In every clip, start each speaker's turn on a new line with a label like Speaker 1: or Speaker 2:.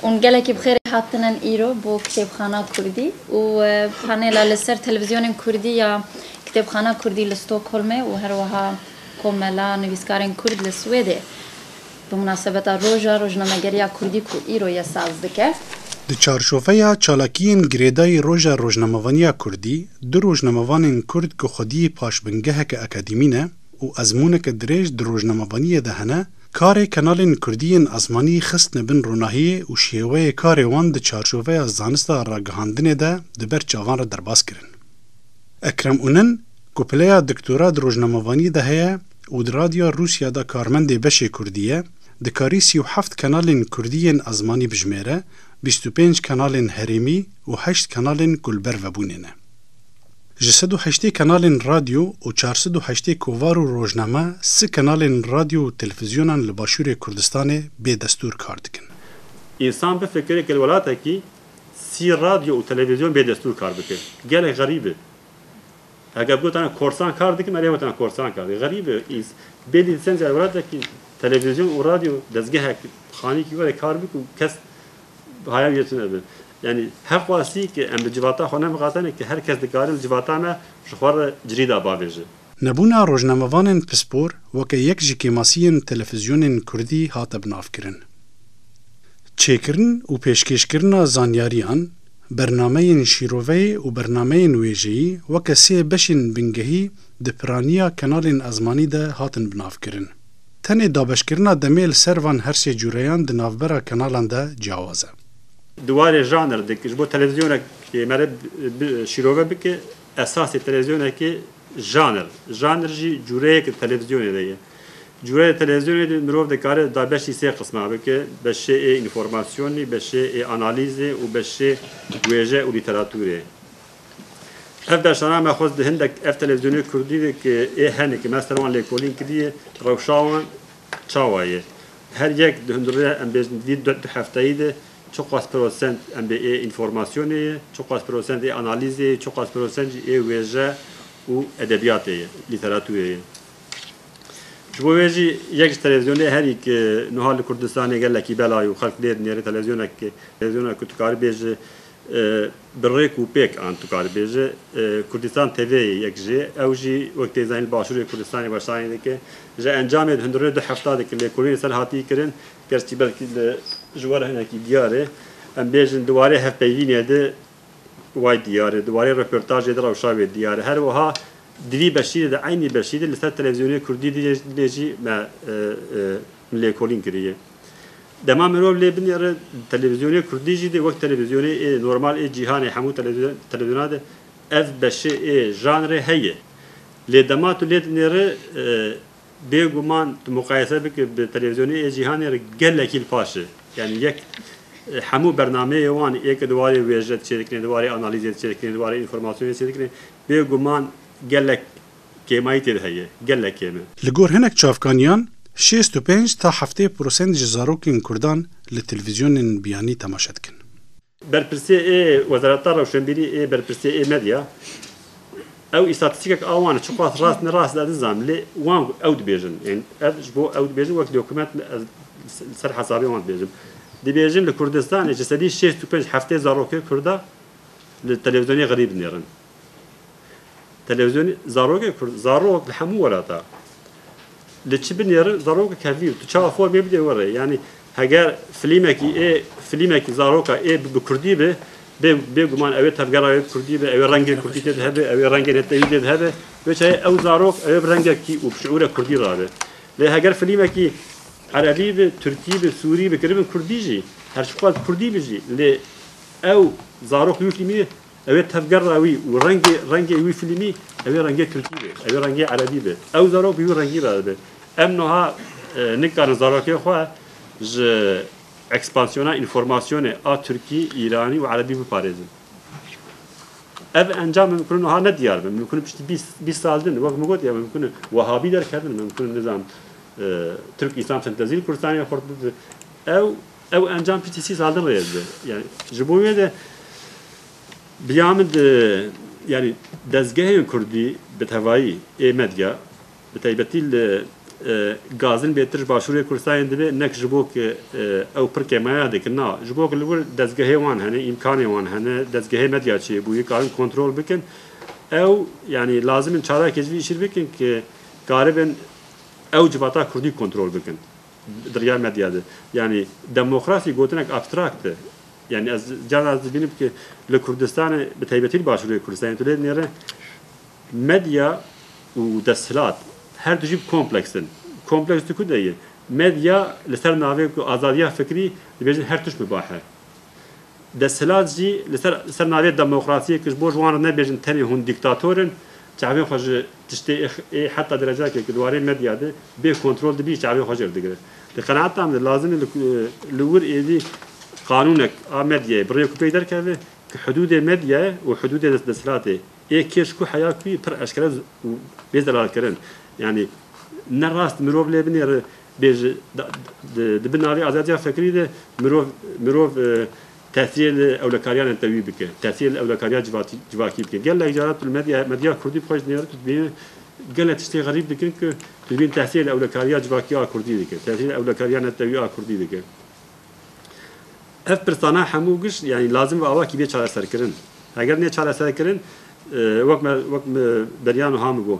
Speaker 1: Hûn gelekî bi xêrê hatinin îro bo Kitêbxana Kurdî û panêla li ser televîzyonên kurdî ya Kitêbxana Kurdî li Stockholmê û her wiha Komela Nivîskarên Kurd li Swêdê bi munasebeta Roja Rojnamegeriya Kurdî ku îro ye saz dike. Di çarçoveya
Speaker 2: çalakiyên girêdayî Roja Rojnamevaniya Kurdî, du rojnamevanên Kurd ku xwedî paşbingeheke akadîmî ne û ezmûneke dirêj di rojnamevaniyê de hene, Karê kanalên kurdî yên asmanî xistine bin ronahiyê û şêweyê karê wan di çarçoveya zanista ragihandinê de di ber çavan re derbas kirin. Ekrem Unen ku pileya doktora di rojnamevaniyê de heye û di Radyoya Rûsya de karmendê beşê kurdî ye, dikarî sî û heft kanalên kurdî yên asmanî bijimêre, bîst û pênc kanalên herêmî û heşt kanalên ku li ber vebûnê ne. Ji sed û heştê kanalên radyo û çar sed û heştê kovar û rojname si kanalên radyo û televizyonan li Başûrê Kurdistanê bê destûr kar dikin. Însan
Speaker 3: bifikire ke li welatekî sî radyo û televizyon bê destûr kar bikin. Gelek xerîb e. Eger bigotane korsan kar dikin erê gotine korsan kar dikin. Xerîb e. Bêdî sence li welatekî televizyon û radyo dezgehek xanîkî were kar bik û kes Haya wî tune be. Yanî her xwestî ke em bi civata xwe nemiqatene ke her kes dikare li civata me ji xwe re cilî da bavêje. Nebûna
Speaker 2: rojnamevanên pispor weke yek ji kêmasiyên telefîzyonên kurdî hate binavkirin. Çêkirin û pêşkêşkirina zanyariyan, bernameyên şîroveyê û bernameyên wêjeyî weke sê beşên bingehî di piraniya kenalên ezmanî de hatin binavkirin. Tenê dabeşkirina demê li ser van her sê cûreyan di navbera kenalan de ciyawaz e. Di warê janr
Speaker 3: de ji bo televîzyonekê mere şîrove bike, esasê televîzyonekê janr, janr jî cûreyek di televîzyonê de ye. Cûre di televîzyonê de mirov dikare dabeşî sê qisma bike, beşê ê înformasyonê, beşê ê analîzê û beşê wêje û lîteratûrê. Ev dersana me xwest di hindek ev televîzyonê kurdî de ke ê hene ke me ser wan lêkolîn kiriye rewşa wan çawa ye. Her yek di hundirêya em bêjin vî du hefteyî de çiqas prosent em bê ê înformasyonê ye, çiqas prosent ê analîzê ye, çiqas prosent jî ê wêje û edebîyatê ye, lîteratûrê ye. Ji bo wê jî yek ji televîzyonê herî ke nuha li Kurdistanê gelekî bela ye û xelk lê dinêre televîzyona ke televîzyona ku tu karibê ji Bi rêk û pêk an tu karî bêje Kurdistan tevê yê yek jê. Ew jî wek tê zanîn li başûrê Kurdistanê weşanê dike. Ji encamê di hundirê du hefta de ki lêkolînê ser hatî kirin keskî belkî li ji we re hinekî diyar e. Em bêjin di warê hevpeyvînê de way diyar e, di warê röportajê de rewşa wê diyar e. Her wiha di vî beşî de di eynî beşî de li ser televîzyonê kurdî dibêjî me lêkolîn kiriye. Dema mirov lê binêre televîzyonê kurdî jî de wek televîzyonê ê normal ê cîhanê hemû televîzyonan de ev beşê ê janrê heye. Lê dema tu lê dinêre bêguman tu muqayese bike bi televîzyonê ê cîhanê re gelekî li paş e. Yanî yek hemû bernameyê wan ê ke di warê wêje de çêdikine, di warê analîzê de çêdikine, di warê înformasyonê de çêdikine bêguman gelek kêmayî tê de heye, gelek kêm e. Li gor hinek çavkaniyan
Speaker 2: şêst û pênc ta heftê prosent ji zarokên Kurdan li televîzyonên biyanî temaşe dikin. Berpirsê
Speaker 3: ê Wezareta Rewşenbîrî ê Berpirsê ê Medya ew îstatîstîkek a wan çiqas rast ne rast ez nizanim lê wan ku ew dibêjin ên ez ji bo ew dibêjin wek dokument ez li ser hesabê wan dibêjim dibêjin li Kurdistanê ji sedî şêst û pênc heftê zarokê Kurda li televîzyonê xirî binêrin. Televîzyonê zarokê kurd zarok li hemû welata li çi binêrin zarokê kevîr tu çawa xwe bê bidê were yanî heger filîmekî ê filîmekî zaroka ê bi kurdî bi bêguman ew ê tevgera wê bi kurdî bi ew ê rengê kurdî tê de hebe ew ê rengê netewî tê de hebe wê çayê ew zarok ew ê bi rengekî û bi şiûre kurdî rabe lê heger filîmekî erebî bi tirkî bi sûrî bi kiribin kurdî jî her çiqas kurdî bi jî lê ew zarok wî filîmî Ew ê tevgera wî û rengê rengê wî fîlmî ew ê rengê tirkî be, ew ê rengê erebî be. Ew zarok bi wî rengî re dibe. Em niha nikarin zarokên xwe ji ekspansiyona înformasyonê a tirkî, îranî û erebî biparêzin. Ev encam min bikun niha ne diyar be. Min bikun piştî bîst sal din. Wek min gotiye min bikun wehabî derkevin, min bikun nizanim tirk-îslam sentezî li kurdistanê xurt bibin. Ew. Ew encam PTC Zaldin rêz be. Yani ji bo wê de biya min di yani dezgehên Kurdî bi tevayî ê medya bi taybetî li Gazin bê tirş başûrê Kurdistanê dibe nek ji bo ku ew pir kêmaya dikin na ji bo ku li wir dezgehê wan hene îmkanê wan hene dezgehê medya çêbûyî karin kontrol bikin ew yani lazim in çarekê ji vî îşî bikin ku karibin ew civata Kurdî kontrol bikin. Di riya medya de yanî demokrasî gotinek abstrakt e. Yanî ez carna ez dibînim ku li Kurdistanê bi taybetî li Başûrê Kurdistanê tu lê dinêre medya û desthilat her du jî bi kompleks in. Kompleks diku de ye? Medya li ser navê ku azadiya fikrî dibêjin her tişt mibah e. Desthilat jî li ser li ser navê demokrasiyê ku ji bo ji wan re nebêjin tenê hûn dîktator in Çavên xwe ji tiştê ê heta derecakê ku di warê medya de bê kontrol dibî çavên xwe jêr digire. Di qenaeta min de lazim e li wir êdî qanûnek a medyayê bi rêk û pêk derkeve ku hidûdê medyayê û hidûdê desthilatê ê kê ji ku heya ku yî pir eşkere û bê zelalkirin yanî ne rast mirov lê binê bê ji di bin navê azadiya fikrî de mirov mirov Tesîyê li ewlekariyanên te wî bike, tesîyê li ewlekariya civakî bike. Gelek caran tu li medya medya kurdî bi xwe ji nêr tu dibînî gelek tiştê xerîb dikin ku tu dibînî tesîyê li ewlekariya civakî a kurdî dike, tesîyê li ewlekariya netewî a kurdî dike. Ev pirsana hemû giş yanî lazim bi awakî bê çareserkirin. Heger nê çareserkirin wek me wek beriyano ha min got.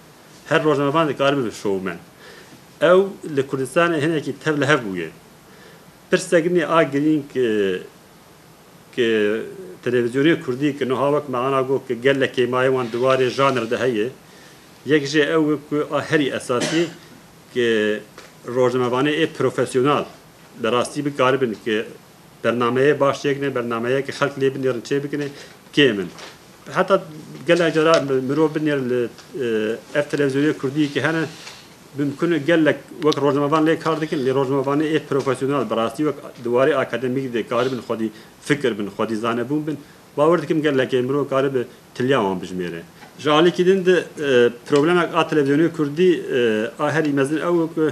Speaker 3: Her rojnamevan dikare bibe şowmen. Ew li Kurdistanê hinekî tevlihev bûye. Pirsek nîne a girîng ke televîzyonên kurdî ke nuha wek me ana got ke gellek kêmayê wan di warê janr de heye, yek jê ew e ku a herî esasî ke rojnamevanê ê profesyonal bi rastî bikaribin ke Bernameyê baş çêkine, bernameyê ke xelk lê binêrin çêbikine kêm in. Heta gelek cara mirov binêrin li ev televîzyonê kurdî ke hene bimkun e gelek wek rojnamevan lê kar dikin lê rojnamevanê ê profesyonel bi rastî wek di warê akademîk de karibin xwedî fikir bin, xwedî zanebûn bin. Bawer dikim gelekê mirov karibe tiliya wan bijimêre. Ji alîkî din de problemek a televîzyonê kurdî a herî mezin ew e ku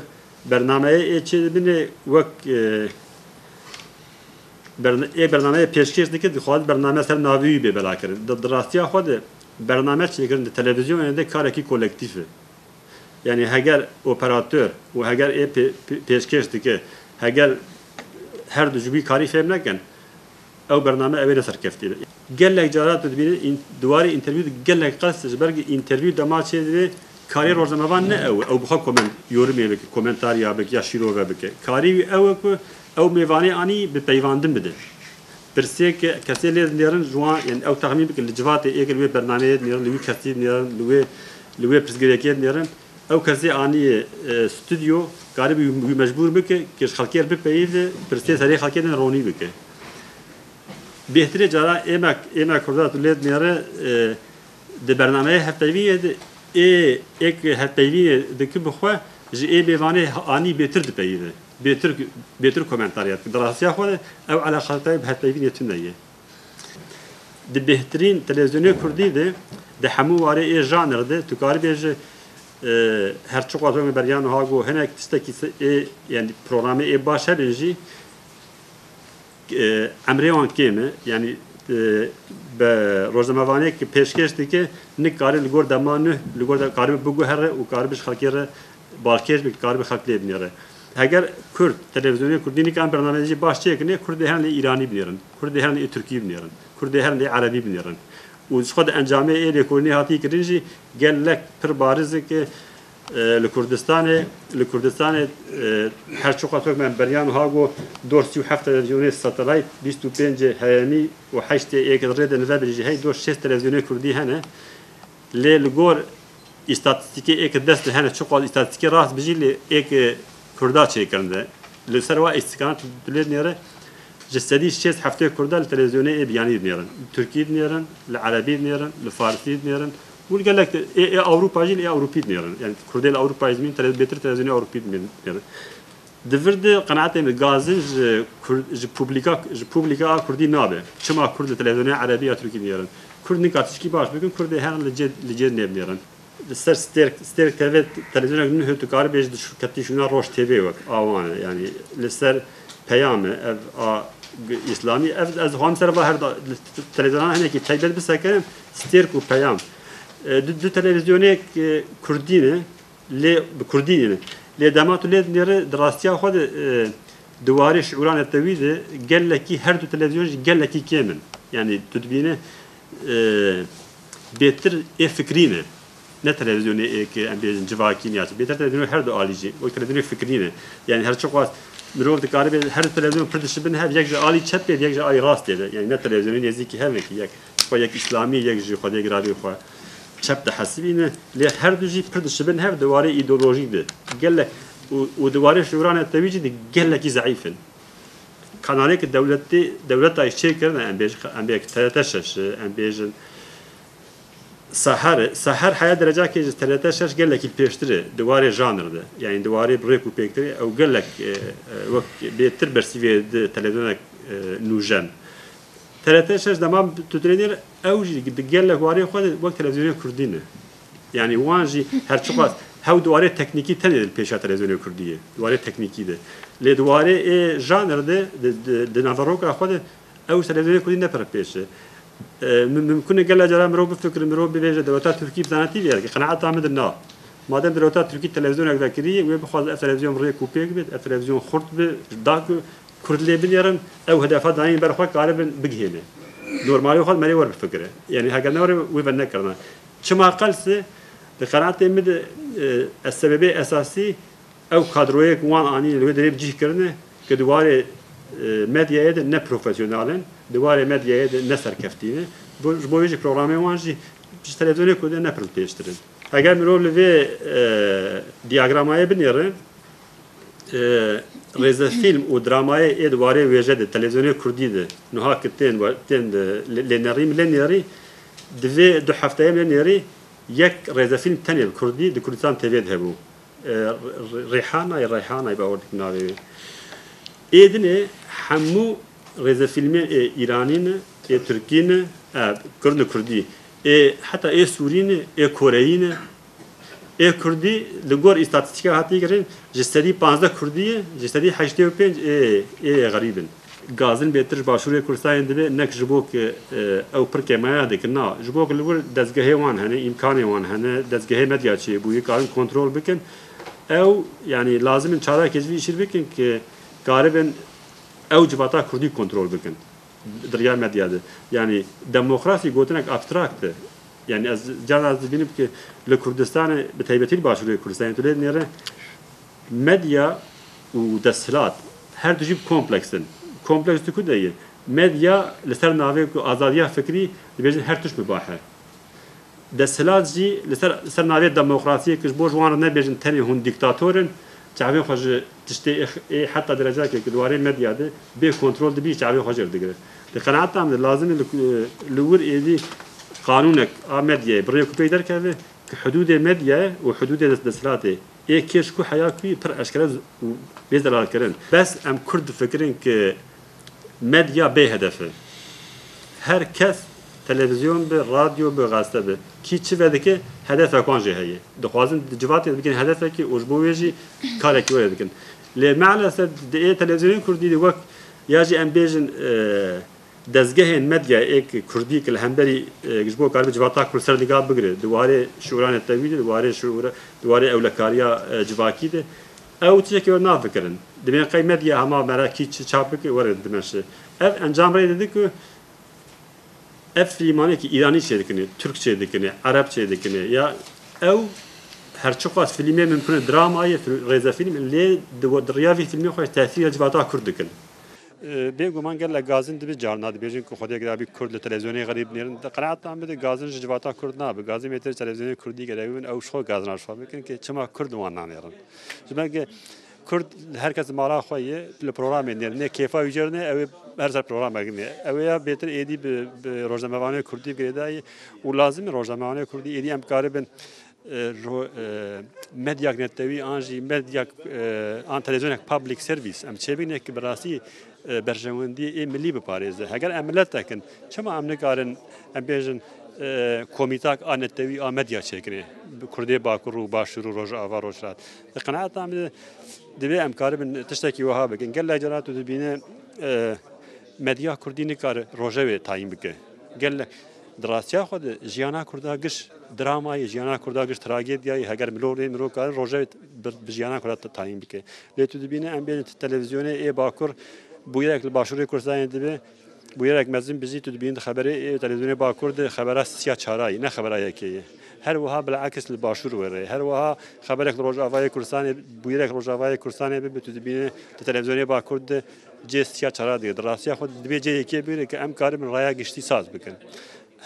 Speaker 3: Bernameyê ê çê dibîne wek ê bernameyê pêşkêş dike dixwaze bername ser navê wî bê belakirin. Di rastiya xwe de bername çêkirin di televîzyonê de karekî kolektîf e. Yanî heger operator û heger ê pêşkêş dike heger herdu ji wî karî fêhm nekin Ew bername ew ê neserkeftî be. Gelek cara tu dibînî di warê întervîw de gelek qas ji ber ku întervîw dema çêdibê karê rojnamevan ne ew e ew bi xwe koment yorumê bike, komentar ya bike ya şîrove bike. Karê wî ew e ku ew mêvanê anî bi peyvandin bide. Pirsêke kesê lê dinêrin ji wan yanî ew texmîn bike li civatê ê kir wê bernameyê dinêrin li wî kesî dinêrin li wê li wê pirsgirêkê dinêrin. Ew kesê anîye studyo karîbû wî mecbûr bike ke ji xelkê re bipeyivde, pirsiyên serê xelkê din ronî bike. Bêhtirê cara ême Kurda tu lê dinêre di bernameyê hevpeyvînê de ê êk hevpeyvînê dike bi xwe ji ê mêvanê anî bêtir dipeyive, bêtir bêtir komentar ya dike. Di rastiya xwe de ew eleqadayê bi hevpeyvînê tune ye. Di bêhtirîn televîzyonê kurdî de, di hemû warê ê janr de tu karî bêjî her çi qas weke beriya niha got hinek tistekî ê yanî programê ê baş hebin jî emrê wan kêm e. Yanî be rojnamevanêk pêşkêş dike, nik karî li gor dema nuh li gor de karî biguhere û karî bi ji xelkê re Balkêş bi karibe xelk lê binêre. Heger Kurd televîzyonên Kurdî nikan bernameyecî baş çêkinê, Kurd dê herin lê Îranî binêrin, Kurd dê herin lê Tirkî binêrin, Kurd dê herin lê Erebî binêrin. Û ji xwe di encamê ê lêkolînê hatî kirin jî gelek pir bariz in ke li Kurdistanê li Kurdistanê her çi qasok me beriyan wiha got, dor sî û heft televîzyonê satelayt, bîst û pêncê heyemî û heştê ê ke di rê de nivebirî jî hey dor şêst televîzyonê Kurdî hene. Lê li gor Îstatîstîkê êke dest li hene çiqas îstatîstîkê rast bijî lê êke Kurda çêkirin de. Li ser wa îstîstîkanan tu lê dinêre ji sedî şêst heftê Kurda li televîzyonê ê biyanî dinêrin. Li Tirkî dinêrin, li Erebî dinêrin, li Farsî dinêrin û li gelek ê Ewropa jî li ê Ewropî dinêrin. Yanî Kurdê li Ewropayê dimînin bêtir televîzyonê Ewropî dimînin. Di vir de qenaetên li gaz in ji ji publika ji publika a kurdî nabe. Çima kurd li televîzyonê erebî ya tirkî dinêrin? Kurd nika tişkî baş bikin kurdê her li cê li cê nêbinêrin. Li ser stêrk stêrk tevê televîzyonek nuh tu karibê ji di ketî şûna roj tv wek a wan e yanî li ser peyam e ev a îslamî ev ez dixwazim ser va her da li televîzyonan hinekî taybet bisekirin stêrk û peyam. Di du televîzyonêk kurdî ne. Lê bi kurdî ne. Lê dema tu lê dinî re di rastiya xwe de di warê şiûra netewî de gelekî her du televîzyon jî gelekî kêm in. Yanî tu dibîne bêtir ê fikrî ne. Ne televîzyonê ê ke em bêjin civakî ne ya çi. Bêtir televîzyonê her du alî jî wek televîzyonê fikrî ne. Yanî her çi xwest mirov dikaribe her du televîzyon pir dişibin hev yek ji alî çep bê û yek ji alî rastê be. Yanî ne televîzyonê nêzîkî hev neke yek. Xwe yek îslamî yek jî xwedê giravê xwe çep dihesibîne lê herdu jî pir dişibin hev di warê îdeolojî de gelek û di warê şiwira netewî jî di gelekî zeîf in. Kanalê ki dewletê dewleta jî çêkirine em bêjin em bêjin TRT şeş em bêjin Seher Seher heya derecakê ji TRT şeş gelekî pêştir e di warê janr de yanî di warê rêk û pêk de ew gelek wek bêtir bersîvê di televîzyonek nûjen TRT şeş dema bi Tutrênê re ew jî di gelek warê xwe de wek televîzyonê kurdî ne. Yanî wan jî her çiqas hew di warê teknîkî tenê li pêşa televîzyonê kurdî ye. Di warê teknîkî de. Lê di warê ê janr de di naveroka xwe de ew ji televîzyonê kurdî ne pir pêş e. Mimkun e gelek caran mirov bifikirin, mirov bibêje di rewta tirkî bi zanetî vêya dike. Qenaeta min de na. Madem di rewta tirkî televîzyonek vekirî wê bixwaze ev televîzyon rêk û pêk bê, ev televîzyon xurt be, da ku Kurd lê bilêrin ew hedefa dayîn ber xwe karibin bigihêne dormalê xwe me rê wer bifikire yanî heger ne were wê ve nekirina çima qelse di qenaatê min de ez sebebê esasî ew kadroyê ku wan anîne li wê derê bi cih kirine ku di warê medyayê de ne profesyonal in di warê medyayê de ne serkeftî ne bo ji bo wê jî programên wan jî ji televizyonê ku de ne pirl pêştir in. Eger mirov li vê dîyagramayê binêre, rêze fîlm û dramayê ê di warê wêje de televîzyonê kurdî de nuha ki tên tên lênerî min lê nêrî di vê du hefteyê min lê nêrî yek rêze fîlm tenê bi kurdî di Kurdistan TV'ê de hebû. Rîhanay Reyhanay bawer dikim navê wê. Ê dinê hemû Rêzefîlmê ê îranî ne, ê tirkî ne, e kurd li kurdî, ê heta ê sûrî ne, ê koreyî ne. Ê kurdî li gor îstatîstîkan hatiye kirin ji sedî pazdeh kurdî ye, ji sedî heştê û pênc ê ê xerîb in. Gazin bê tir ji başûrê Kurdistanê dibe ne ji bo ku ew pir kêmaya dikin na, ji bo ku li wir dezgehê wan hene, îmkanê wan hene, dezgehê medya çêbûyî karin kontrol bikin. Ew yanî lazim in çarekê ji vî îşî bikin ku karibin. Ew civata kurdî kontrol bikin di riya medya de. Yanî demokrasî gotinek abstrakt e. Yanî ez carna ez dibînim ki li Kurdistanê bi taybetî li başûrê Kurdistanê tu lê dinêre medya û desthilat her du jî bi kompleks in. Kompleks tu ku de ye? Medya li ser navê ku azadiya fikrî dibêjin her tişt mibahe. Desthilat jî li ser li ser navê demokrasiyê ku ji bo ji wan re nebêjin tenê hûn dîktator in, çavên xwe ji tiştê ê heta derecakê ku di warê medya de bê kontrol dibî çavê xwe jêr digirin. Di qenata min de lazim e li wir êdî qanûnek a medyayê bi rê ku pey derkeve ku hidûdê medyayê û hidûdê desthilatê ê kê ji ku heya ku pir eşkere û bê zelalkirin. Bes em kurd difikirin ku Medya bê hedef e. Her kes televizyon be, radyo be, gazete be, kî çi vedike hedefek wan jî heye. Dixwazin di civatê de bikin hedefekê û ji bo wê jî karekî were dikin. Lê meelesef di ê televizyoyên kurdî de wek ya jî em bêjin dezgehên medya ê kurdî ke li hemberî ji bo karibe civata kurd ser nika bigire di warê şûran e tewî de, di warê şûra di warê ewlekariya civakî de Ew tiştekî were nafikirin. Dimên qey medya hema mere kî çi çap bike were dimeşe. Ev encam rê dide ku ev filîmanekî îranî çêdikine, tirkçe dikine, erebçe dikine ya ew her çiqas filîmê mimkune drama ye, rêzefîlm lê di rêya vî filmê xwe tesîra civata kurd dikin. Bê guman gelek gazin dibi carna dibêjin ku xwedê gera bî kurd li televîzyonê xerîb nêrin. Di qeneetan bidin gazin ji civata kurd nabi. Gazin mêtir televîzyonê kurdî gera wî bin ew ji xwe gazina ji xwe bikin ke çima kurd li wan nanêrin. Ji ber ke kurd her kes mala xwe ye li programê nêrin. Nê kêfa wî jêr ne ew ê her ser programek nê. Ew ê ya bêtir êdî bi rojnamevanê kurdî girêdayî û lazim e rojnamevanê kurdî êdî em karibin Ji medyayek netewî an jî medyayek an televîzyonek public service em çêbîne ku bi rastî berjewendiyê ê milî biparêze. Heger em miletek in çima em nikarin em bêjin komîtak a netewî a medya çêkirê bi kurdê bakur û başûr û rojava rojhilat. Di qenaeta min de divê em karibin tiştekî wiha bikin. Gelek caran tu dibîne medya kurdî nikare rojevê tayîn bike. Gelek Di rastiya xwe de jiyana Kurda giş drama ye, jiyana Kurda giş tragedya ye. Heger mirov rê mirov karin rojevê bi jiyana Kurda tayîn bike. Lê tu dibînî em bên televizyonê ê Bakur bûyerek li Başûrê Kurdistanê dibe, bûyerek mezin bijî tu dibînî di xeberê ê televizyonê Bakur de xebera siya çara ye, ne xebera yekê ye. Her wiha bil'aks li Başûr were. Her wiha xeberek li Rojavayê Kurdistanê bûyerek li Rojavayê Kurdistanê bibe tu dibînî di televizyonê Bakur de Cê siya çara dê. Di rastiya xwe de dibê cê yekê bê ke em karibin raya giştî saz bikin.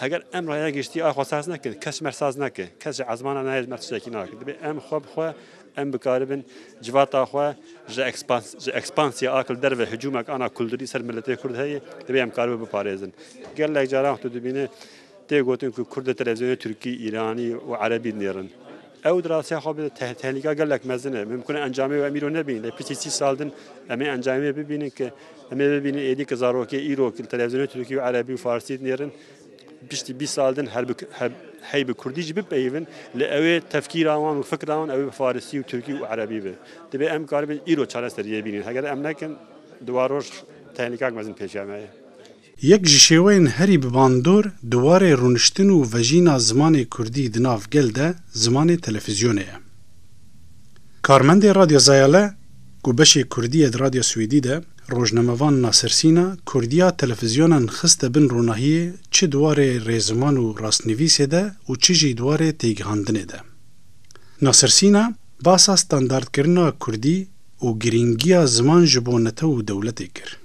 Speaker 3: Heger em raya giştî a xwe saz nekin, kes ji me saz nake. Kes ji ezmana nayê ji me tiştekî nake. Dibê em xwe bi xwe em bikaribin civata xwe ji ji ekspansiya a li derve hicûmek ana kulturî ser miletê Kurd heye, dibê em karibin biparêzin. Gelek caran tu dibîne Tê gotin ku Kurd li televîzyonên Tirkî, Îranî û Erebî dinêrin. Ew di rastiya xwe bide tehlîka gelek mezin e. Mimkun e encamê wê em îro nebînin. Lê piştî sî sal din em ê encamê wê bibînin ku em ê bibînin êdî ku zarokê îro ku li televîzyonên Tirkî û Erebî û Farsî dinêrin piştî bîst sal din hey bi Kurdî jî bipeyivin lê ew ê tefkîra wan û fikra wan ew ê bi Farsî û Tirkî û Erebî be. Divê em karibin îro çareseriyê bînin. Heger em nekin di wan roj tehlîkak mezin pêşiya me ye. Yek ji
Speaker 2: şêweyên herî bi bandor di warê rûniştin û vejîna zimanê kurdî di nav gel de zimanê telefîzyonê ye. Karmendê Radyo Zayale ku beşê kurdî ye di Radyo Swêdî de, rojnamevan Nasir Sîna kurdîya telefîzyonan xiste bin ronahiyê çi di warê rêziman û rastnivîsê de û çi jî di warê têgihandinê de. Nasir Sîna basa standardkirina kurdî û girîngiya ziman ji bo netew û dewletê kir.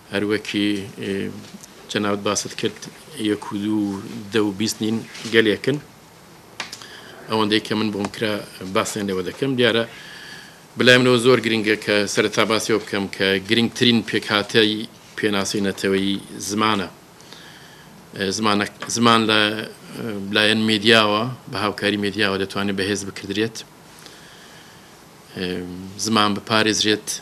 Speaker 4: Her wekî cenabet basit kir yek û dû deh û bîst nîn gelek in. Ewendeyî ke min bi hûnkira basên li we dikim diyar e. Bi lay min ew zor girîng e ke sereta basê we bikim ke girîngtirîn pêkhateyî pênaseyî neteweyî ziman e. Ziman ziman li layên medya we bi hawkarî medya we detwanê bi hêz bikirdriyet. Ziman biparêzriyet.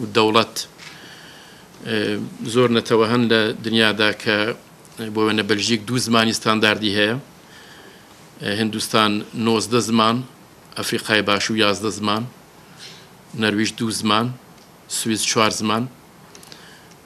Speaker 4: û dewlet zor netewe hene li dinya de ke bo wêne Beljîk du zimanî standardî heye, Hindistan nozdeh ziman, Efrîkayê Başû yazdeh ziman, Nerwîj du ziman, Swîs çar ziman.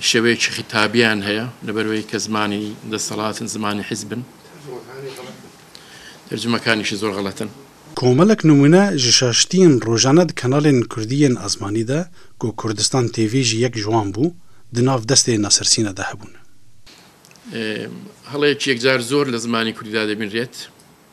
Speaker 4: şeveyekî xîtabiyan heye li ber wê ke zimanî desthilat in, zimanî hîzb in. Tercumekanî jî zor xelet in. Komelek nimûne
Speaker 2: ji şaştiyên rojane di kanalên kurdî yên ezmanî de ku Kurdistan TV jî yek ji wan bû, di nav destê Nasir Sîne de hebûn.
Speaker 4: Heleyekî yekcar zor li zimanî kurdî de dê bînrêt.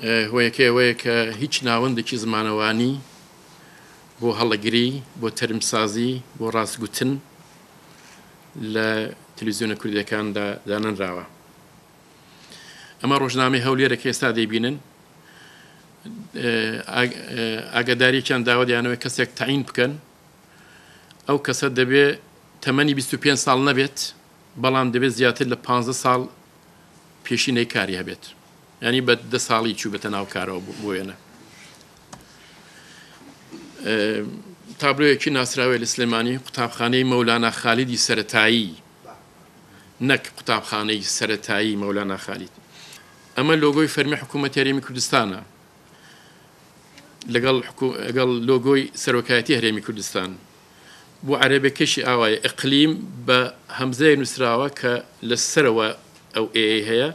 Speaker 4: Hoyekê wê ye ke hîç navendekî zimanewanî bo helegirî, bo terimsazî, bo rastgutin li televîzyona Kurdekan de danenrawe. Ema rojnameyê Hewlêrê ke êsta dê bînin, agadarîyekiyan dawa diyane wê kesek teyîn bikin. Ew kese dibê temenî bîst û pênc sal nebêt, belam dibê ziyatîr li panzdeh sal pêşîneyî karî hebêt. Yanî be di salî çû bite nav kara û bûyene. Tabloyekî nasrawe li Silêmanî Qutabxaneyî Mewlana Xalîdî Seretayî nek Qutabxaneyî Seretayî Mewlana Xalîd. Eme logoy fermî Hikûmet Herêmî Kurdistan e. Legal egal logoy Serokayetî Herêmî Kurdistan. Bu erebekişî awa ye iqlîm be hemzeyê nusrawe ke li ser we ew êê heye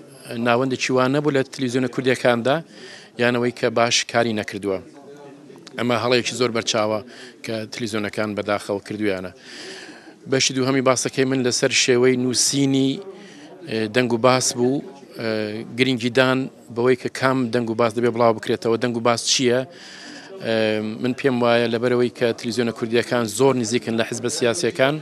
Speaker 4: Navendekî wan nebû li televîzyona Kurdekan de yan ewê ke baş karî nekirdiwe. Ema helayekî zor berçava ke televîzyonekan bedaxew kirduyane. Beşî dûhemî basekê min li ser şêweyê nûsînî deng û bas bû. Girîngîdan bi wê ke kam deng û bas dibê bila bikirêtewe, deng û bas çi ye? Min pêm waye li ber ewê ke televîzyona Kurdekan zor nîzîk in li hizba sîyasîyekan.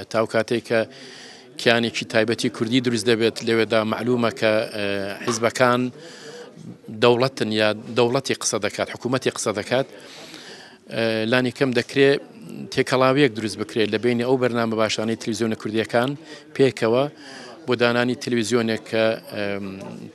Speaker 4: Heta o katê ke kiyanekî taybetî Kurdî dirûst debêt lê weda melûm e ke hizbekan dewlet in ya dewletî qise dikat, hikûmetî qise dikat. Lanî kem dikrê têkelawiyek dirûst bikrê li beynî ew bernamebaşanê televîzyona Kurdîyekan pêkewe bo dananî televîzyoneke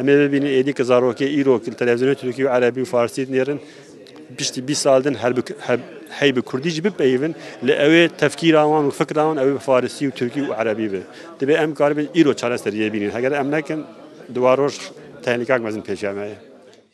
Speaker 3: Em ê bibînin êdî ku zarokê îro ku li televîzyonên Tirkî û Erebî û Farsî dinêrin piştî bîst sal din hey bi Kurdî jî bipeyivin lê ew ê tefkîra wan û fikra wan ew ê bi Farsî û Tirkî û Erebî be. Divê em karibin îro çareseriyê bînin. Heger em nekin di wan roj tehlikak mezin pêşiya me ye.